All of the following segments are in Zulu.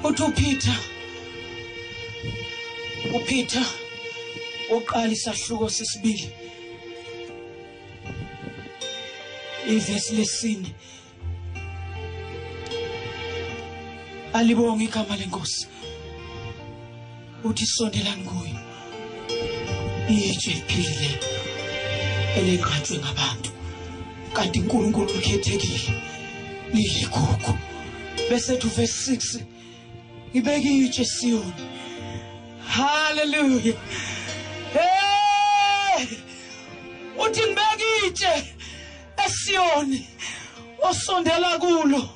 uthi uPeter uPeter uqala isahluko sesibili ivesi lesine alibonge igama lenkosi uthi sondelani kuyo itshe liphilile elenqatshwe ngabantu kanti uNkulunkulu ukhethekile liligugu bese thu verse 6 ngibeke itshe Siyoni hallelujah hey uthi ngibeke itshe esiyoni osondela kulo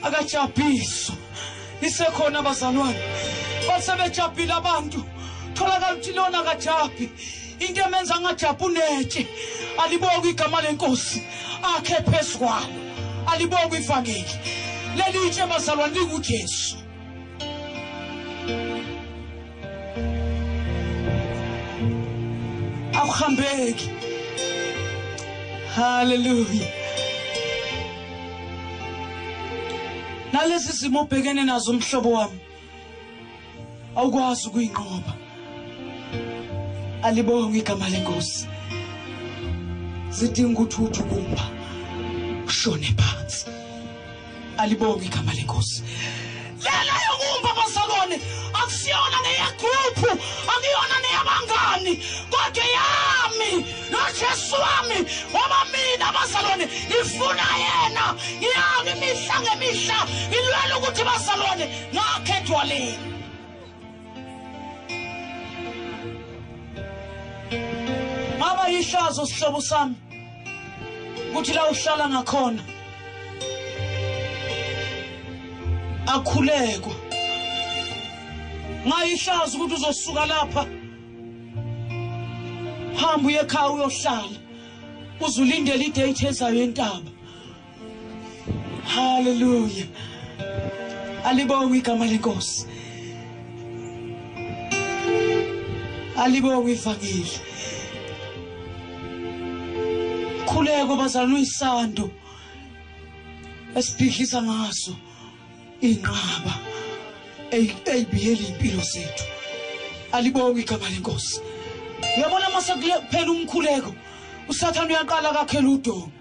akajabhiso isekhona abazalwane bathe bejabhile abantu tholakala ukuthi lona akajabhi into emenza angajabhi unetshe alibonge igama lenkosi akhe phezu kwalo alibonge ivangeli leli itshe bazalwane lingujesu Akuhambeki. Hallelujah. Nalezi zimo ubhekene nazo umhlobo wami. Awukwazi ukuyinqoba. Alibonge igama lenkosi. Sidinga ukuthi uthi ukumba. Shone phansi. alibonge igama lenkosi lena yokumba abazalwane akusiyona neyegruphu akuyona neyabangani kodwa yami nojesu wami ngoba mina abazalwane ngifuna yena ngiyami imihla ngemihla ngilwela ukuthi bazalwane ngakhethwa leni ngaba yihlazo sihlobo sami ukuthi la uhlala ngakhona akhulekwa ngayihlazo ukuthi uzosuka lapha hamba uye ekhaya uyohlala uzulindele idate ezayo entaba Hallelujah. Alibongwe igama lenkosi. Alibongwe ivangeli. Khuleko bazalwa uyisando esibhidlisa ngaso inqaba eyibiyela impilo zethu. Alibongwe igama lenkosi. Uyabona mase kuphela umkhuleko usathana uyaqala kakhela udonga.